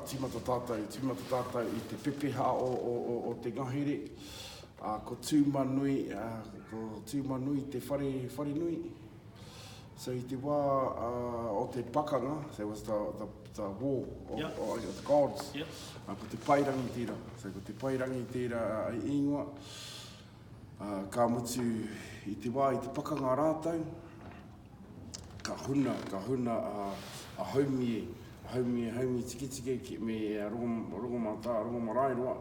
Tīmata tātou, tīmata tātou i te pepeha o te ngahere. Ko Tūmanui, ko Tūmanui te whare, wharenui. So i te wā o te pakanga, there was the, the, the war of, yep. of, of the gods. Yep. Ko te pairangi tērā, so ko te pairangi tērā ingoa. Ā, ka mutu i te wā, i te pakanga rātou, ka huna, ka huna a, a Haumie, a Haumie, Haumie Tiketike ki, me a Rongo, Rongomatā, Rongomaraeroa,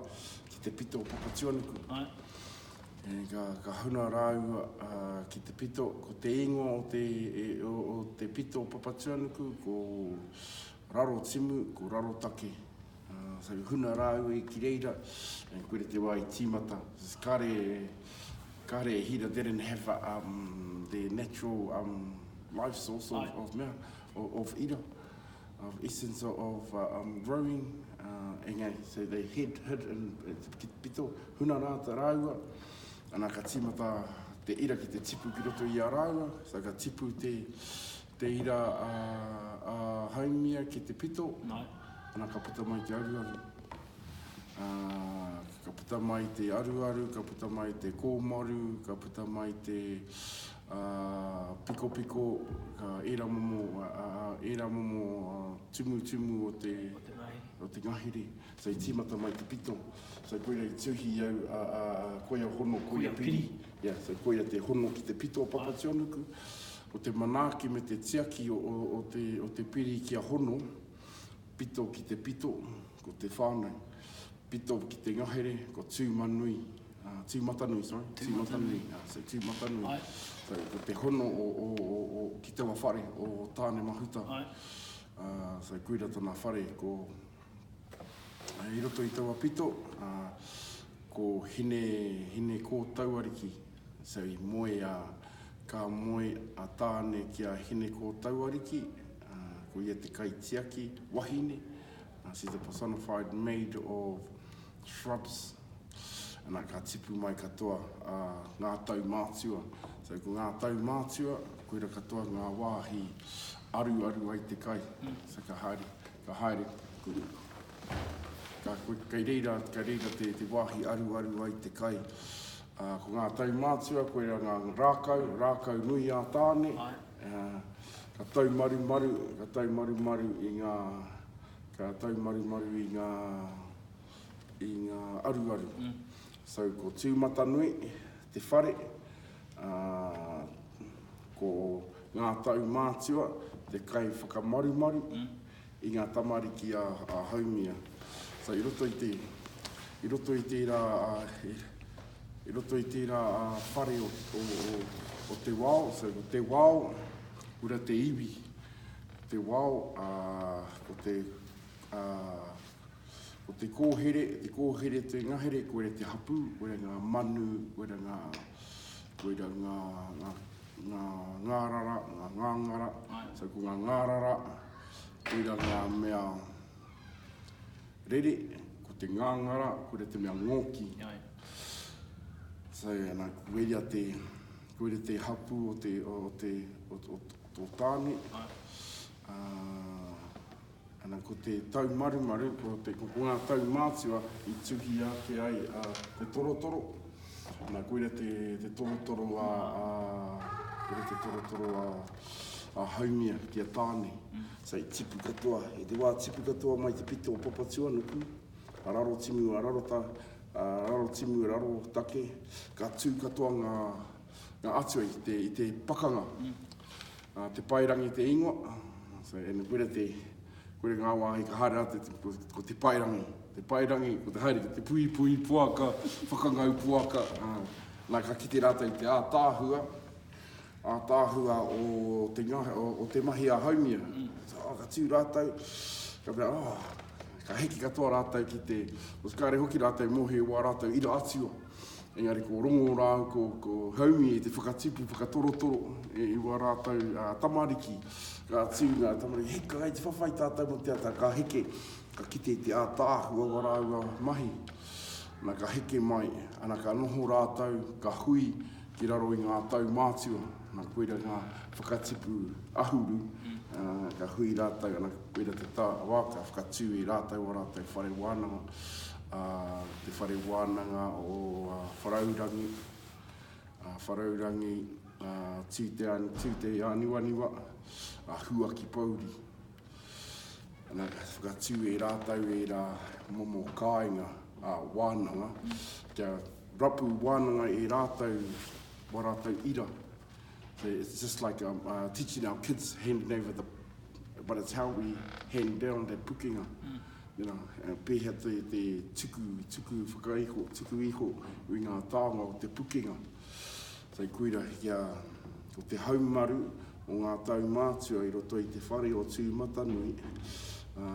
ki te pito o Papatuanuku. E, ka, ka huna rāua a, ki te pito, ko te ingoa o te, e, o, o te pito o Papatuanuku, ko Raro Timu, ko Raro Take. Whare huna rāua i ki reira, and koe te wā i tīmata. Kāre, kāre e hira, they didn't have um, their natural um, life source of, of, mea, of, of ira, of essence of uh, um, growing, uh, engari, so they hid, hid in, ki te pito, huna rā ta rāua, ana ka tīmata te ira ki te tipu ki roto i a rāua, so ka tipu te, Te ira a, a Haumia ki te pito. No. Ana ka puta mai te aruaru. A, ka puta mai te aruaru, ka puta mai te kōmaru, ka puta mai te a, pikopiko, ka ērā momo, a, a, ērā momo a, tumutumu o te, o te ngahere. So i tīmata mai te pito. So koira i tuhi i au, a, a, a, koia hono, koia piri. Yeah, so koia te hono ki te pito o Papationuku. Ko te manaaki me te tiaki o, o, o, te, o te piri ki a hono, pito ki te pito, ko te whānau. Pito ki te ngahere, ko tūmanui, uh, tūmatanui, sorry. Tūmatanui. Uh, so tūmatanui. Ai. So ko te hono o, o, o, o, ki taua whare, o Tāne Mahuta. Ai. Uh, so koira tana whare, ko I roto i taua pito, ko Hine, Hine Kōtauariki, so i moe a, ka moe a Tāne ki a Hine Kōtauariki, ko ia te kaitiaki wahine, she's the personified maid of shrubs, ana, ka tipu mai katoa a ngā tau mātua. So ko ngā tau mātua, koira katoa ngā wāhi aruaru ai te kai, so ka haere, Ka haere kuru. Ka koe, kei reira, kei reira te, te wāhi aruaru ai te kai. Ā, ko ngā taumātua, koirā ngā rākau, rākau nui ā Tāne. Ā, ka taumarumaru, ka taumarumaru i ngā, ka taumarumaru i ngā, i ngā aruaru. So, ko Tūmatanui, te whare, ā, ko ngā tau mātua te kai whakamarumaru i ngā tamariki a Haumia. So, i roto i te, i roto i tērā, i roto i tērā whare o, o, o, o te wao, so, ko te wao, kura te iwi, te wao, ā, ko te, ā, Ko te kōhere, te kōhere, te ngahere, koira te hapū, koira ngā manu, koira ngā, koira ngā, ngā, ngā, ngā rara, ngā ngāngara, so ko ngā ngā rara, koira ngā mea rere, ko te ngāngara, koira te mea ngōki. So, ana, koira te, koira te hapū o te, o te, o, o, o, o tō tāne. Uh, Ana ko te taumarumaru, ko te ko ngā tau mātua i tuhi ake ai a te torotoro. Ana koira te, te torotoro a, a koira te torotoro a, a Haumia ki a Tāne. Mm. So i tipu katoa, i te wā tipu katoa mai te pito o Papatuanuku, a raro timu, a raro ta, a raro timu, a raro take, ka tū katoa ngā, Nga Atua i te, i te pakanga. Uh, te pairangi te ingoa. So, and kore te, kore ngā wāhi ka haere atu, ko, ko te pairangi. Te pairangi, ko te haere, ko te pui pui puaka, whakangau puaka. Uh, nā, ka kite rātou i te ātāhua, ātāhua o te, o, o te mahi a haumia. So, oh, ka tū rātou, ka mea, oh, ka hiki katoa rātou ki te, o kāre hoki rātou mōhio wā rātou ira atua. Engari ko Rongo rāu ko, ko Haumi e te whakatipu, whakatorotoro, e iwa rātou a tamariki. Ka tū ngā tamariki, hei ka te whawhai tātou mo te ata, ka heke, ka kite te ātāhu a wa rāua mahi. Na ka heke mai, ana ka noho rātou, ka hui, Ki raro i ngā tau mātua, nā koira ngā whakatipu ahuru, ka hui rātou, ana koira te tā wā ka whakatū i rātou ā rātou whare wānanga, te whare wānanga o Wharaurangi, Wharaurangi, Tūteaniwaniwa, Huakipouri. Ana ka whakatū e rātou ērā momo kāinga ā wānanga, kia rapu wānanga e rātou wā rātou ira. So it's just like um, uh, teaching our kids handing over the, but it's how we hand down that pukenga. Mm. You know, uh, pēhea te, te tuku, tuku whakaiho, tuku iho i ngā tāonga o te pukenga. Whai Kuira kia ko te haumaru o ngā tau mātua i roto i te whare o Tūmatanui, ā,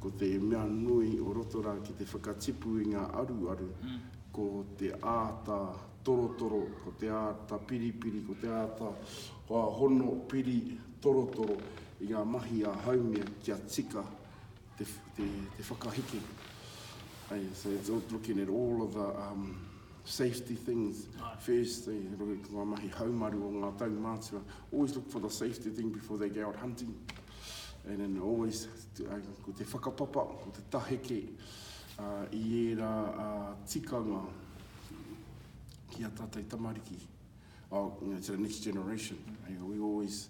ko te mea nui o roto rā ki te whakatipu i ngā aruaru, ko te āta torotoro, ko te āta piripiri, ko te āta hono piri torotoro i ngā mahi a Haumia kia tika te, te, te whakahiki. Hey, so it's all looking at all of the um, safety things Aye. first. Hey, runga ki ngā mahi haumaru o ngā tau mātua. Always look for the safety thing before they go out hunting. And then always, uh, ko te whakapapa, ko te taheke uh, i ērā uh, tikanga ki a tātou tamariki. Oh, you know, to the next generation. You know, we always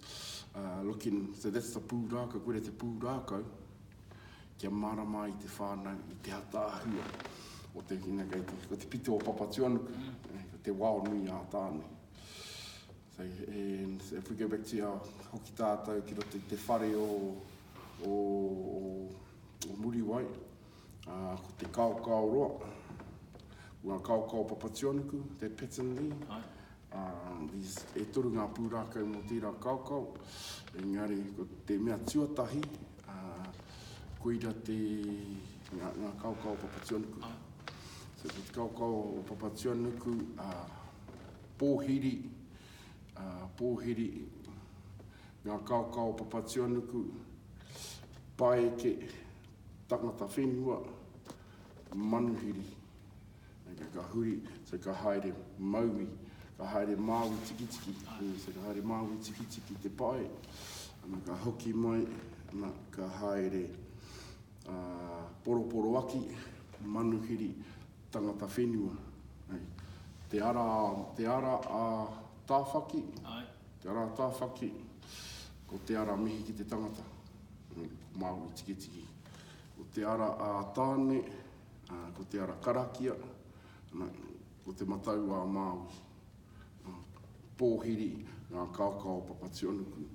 uh, looking, so that's the pūrākau, kore te pūrākau, kia marama i te whānau, i te ataahua o te hina kei te, ko te pito o Papatuanuku, mm. ko te wao nui a tāne. So, and if we go back to our hoki tātou ki roto i te whare o, o, o, o Muriwai, Ā, ko te kaokao roa, ko ngā kaokao papationuku, te patternly, ā, these, e toru ngā pūrākau mō tērā kaokao, engari ko te mea tuatahi, ā, koira te, ngā, ngā kaokao o papationuku. So, ko te kaokao o papationuku, ā, pōhiri, ā, pōhiri, ngā kaokao o papationuku, paeke, Tangata whenua, manuhiri. Okay, ka huri, so ka haere maui, ka haere māui tikitiki, so ka haere māui tikitiki te pae, ana ka hoki mai, ana ka haere uh, poroporoaki, manuhiri, tangata whenua. Hey. Te ara, te ara a tāwhaki, Ai. te ara a tāwhaki, ko te ara mihi ki te tangata. Māori tikitiki. Ko te ara ā Tāne, ko te ara karakia, ko te matau ā Māui. Pōhiri ngā kaoka o Papatuanuku.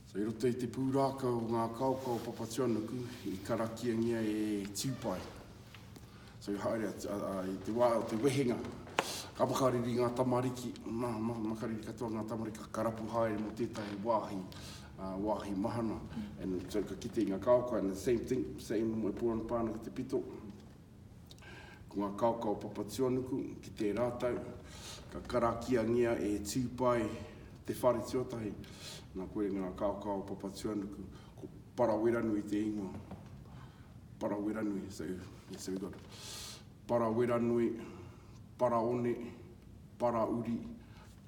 So, i roto i te pūrākau o ngā kaoka o Papatuanuku, i karakiangia e Tiupai. So haere atu, a, a, i te wā o te wehenga, ka makariri ngā tamariki, ma, ma, makariri katoa ngā tamariki, ka karapu haere mō tētahi wāhi, uh, wāhi mahana. And so ka kite i ngā kaoka, and the same thing, same mo e pū ana pāna ki te pito. Ko ngā kaoka o Papatuanuku, ki te rātau, ka karakiangia e Tūpai te whare tuatahi. Nā koe ngā kaoka o Papatuanuku, Ko Paraweranui te ingoa. Paraweranui, so, yes, so we've got Paraweranui, Paraone, Parauri,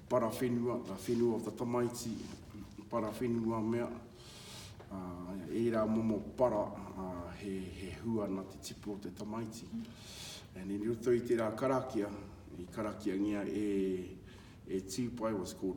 Parawhenua, the whenua of the tamaiti, Parawhenua mea, uh, ērā momo para uh, he, he hua na te tipu o te tamaiti. And in roto i tērā karakia, i karakiangia e, e Tīpai, was called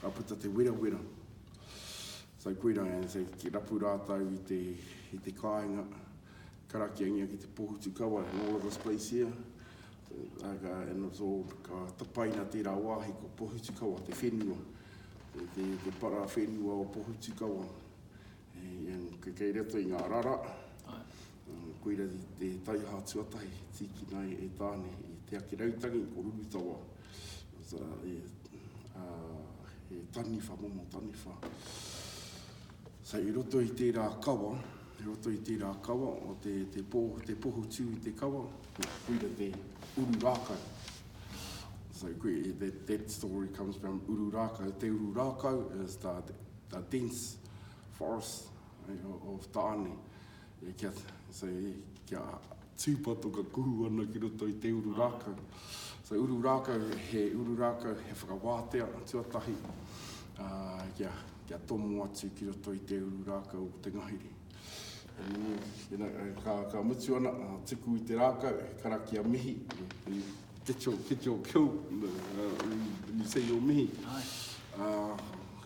Ka puta te werawera. So koirā, ki rapu rātou i te, i te kāinga, karakiangia ki te pohutu kawa, and all of this place here, and it's all, ka tapaina tērā wāhi ko pohutu kawa, te whenua, te, te, te para whenua o pohutu kawa. Kei roto i ngā rara, koira te taiaha tuatahi e tīkina ai e Tāne, i Te Akirautangi, ko Rurutawa, he taniwha, momo taniwha. I roto i tērā kawa, i roto i tērā kawa, te pohutū i te kawa, koira te uru rākau. That story comes from uru rākau, te uru rākau is the dense forests of Taane, kia, so, kia tūpato ka kuhu ana ki roto i te uru rākau. So uru rākau, he uru rākau, he whakawātea tuatahi kia, kia tomo atu ki roto i te uru rākau o te ngahere. Ka, ka mutu ana, tuku i te rākau, karakia mihi. Get your, get your kill, when you say your mihi. Aye.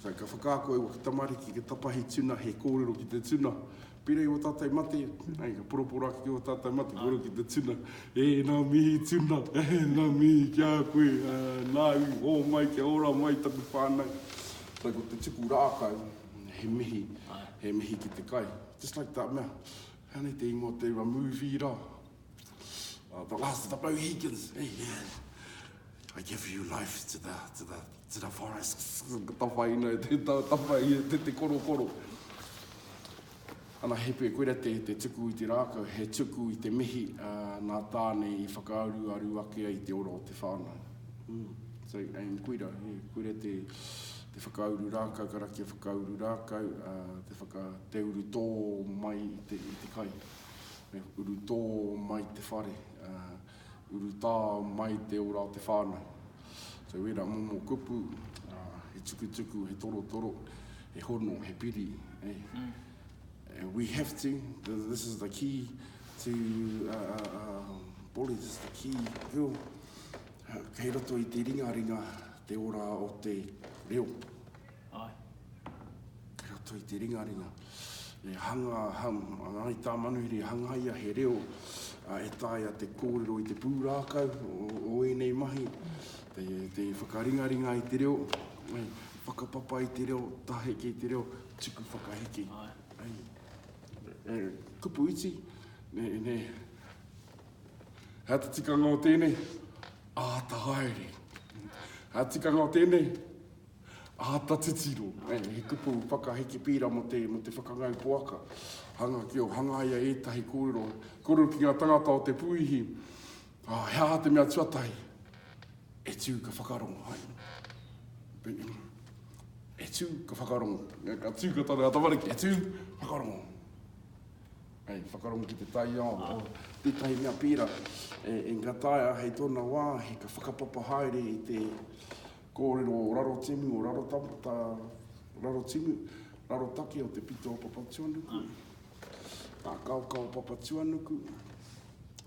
Ka whakaako e waka tamariki, ka tapahi tuna, he kōrero ki te tuna. Pērā i o tātou mate, aye, ka poroporo ake ki o tātou mate, kōrero ki te tuna. E, nā mihi tuna, nā mihi ki a koe, nā i hōmai kia ora mai taku whānau. Ko te tuku rākau, he mihi, he mihi ki te kai. Just like that mea, he ana i te ingoa o te rua, movie rā. Oh, the last of the Mohicans. Hey, yeah. I give you life to the, to the, to the forests. Ta whai nei, te, ta, ta whai, te, te koro koro. Ana hepe, koira te, te tuku i te rākau, he tuku i te mihi uh, nā tāne i whakaaru aru ake ai te ora o te whānau. Mm. So, and koira, yeah, koira te, te whakauru rākau, karakia whakauru rākau, uh, te, whaka, te uru tō mai i te, i te kai. Me urutō mai te whare, urutā mai te ora o te whānau. So ērā momo kupu, he tukutuku, he torotoro, he hono, he piri. We have to, this is the key to Polly's, the key reo. Kei roto i te ringaringa te ora o te reo. Ae. Ki roto i te ringaringa. E hanga, hanga, i tā Manuhiri, hangaia he reo e taea te kōrero i te pūrākau o ēnei mahi, te, te whakaringaringa i te reo, ai, whakapapa i te reo, taheke i te reo, tuku whakaheke. Ai. Ai. E, kupu iti, ne, ne, hea te tikanga o tēnei, āta haere. Hea tikanga o tēnei, Āta titiro, he kupu whakaheke pērā mō te whakangau poaka. Hanga ki o hangaia ētahi kōrero, kōrero ki ngā tangata o te puihi, he aha te mea tuatahi e tū ka whakarongo, hai. E tū ka whakarongo, ka tū ka tana tamariki, e tū, whakarongo. Hei, whakarongo ki te taiao, oh. tētahi mea pērā, e, e ngataia hei tōna wā, he ka whakapapa haere i te, Kōrero o raro timu, o raro tangata, raro timu, raro take o te pito o Papatuanuku, ngā kaoka o Papatuanuku,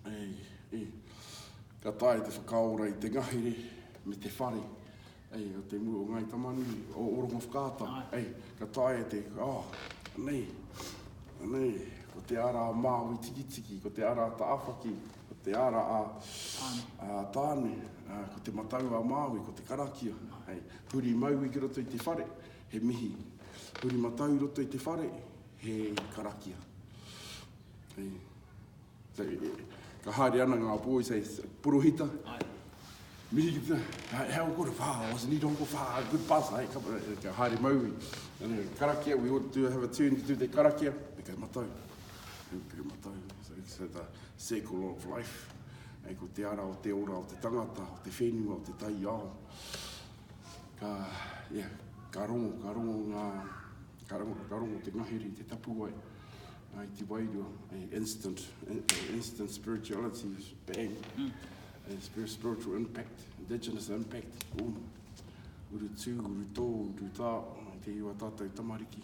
e, e, ka tae te whakaora i te ngahere me te whare, e, o te mua o Ngai Tamanui, o, o Rongo Whakaata, e, ka tae te, oh, nei, nei, ko te ara Māui tikitiki, ko te ara Taawhaki, Ko te ara a Tāne, ko te matau a Māui, ko te karakia. Hei, huri maui ki roto i te whare, he mihi. Huri matau i roto i te whare, he karakia. Hei, ka haere ana ngā boys, hei, porohita. Ai. Mihi ki te, hei, hei, oko ra whā, I was need oko whā, good buzz, hei, ka, ka haere maui. Karakia, we ought to have a turn ki tū te karakia, me kai matau. Pēpere matau, so it's the circle of life. Hei ko te ara o te ora, o te tangata, o te whenua, o te taiao. Ka, yeah, ka rongo, ka rongo ngā, ka rongo, ka rongo te ngahere i te tapuwae. Ai te wairua, ai instant, instant spirituality, bang. Mm. Ai spiritual impact, indigenous impact, boom. Uru tū, uru tō, uru tā, te iwa tātou tamariki.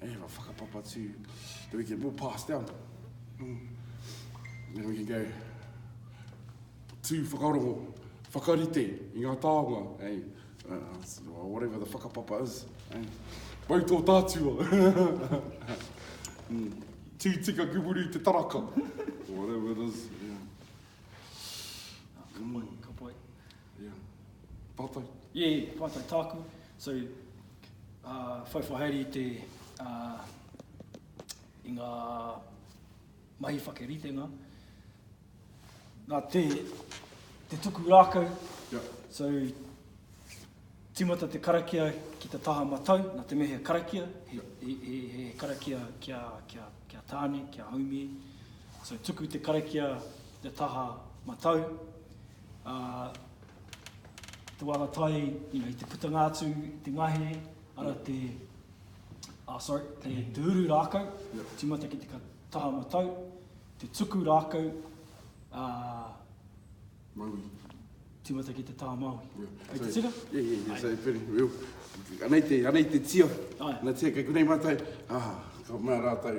Hey, if I fuck a papa too, then we can, we'll pass down. Mm. Then we can go tū whakarongo, whakarite i ngā tāonga, hey, uh, uh whatever the whakapapa is. Hey. Wai tō tātua. mm. Tū tika kumuru te taraka. whatever it is. Yeah. Ah, ka pai, ka pai. Yeah. Pātai? Yeah, pātai tāku. So, uh, whai whahaere i te, uh, i ngā mahi whakeritenga, nā te, te tuku rākau, yeah. so timata te karakia ki te taha matau, nā te mea he karakia, he, he, he, he karakia kia, kia, kia tāne, kia haumi, so tuku te karakia te taha matau, ā, te wānga tai, you know, i te putanga atu i te ngahere, arā te, ā, sorry, te, te uru rākau, tīmata ki te ka, taha matau, te tuku rākau, ā, Maui. tīmata ki te taha Māui. Yeah. Hei te tika? Yeah, yeah, yeah. So, very well. Anei te, anei te tio. Ai. Nā tia, kei konei mātou, ah, ka mea rātou,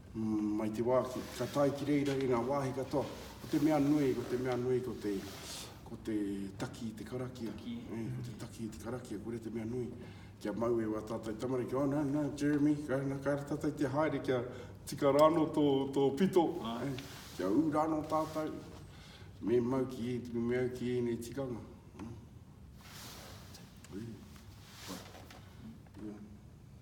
Mai te wā ki, ka tae ki reira i ngā wāhi katoa. Ko te mea nui, ko te mea nui, ko te, ko te taki i te karakia. Taki. Hei, ko te taki i te karakia, kore te mea nui. Kia mau e wā tātou tamariki, oh no, no, Jeremy, ka, no, ka ara tātou te haere, kia tika rāno tō, tō pito. Ai. Kia ū rāno tātou, me mau ki, me mau ki ēnei tikanga. Mm. Ui. Ui. Ui.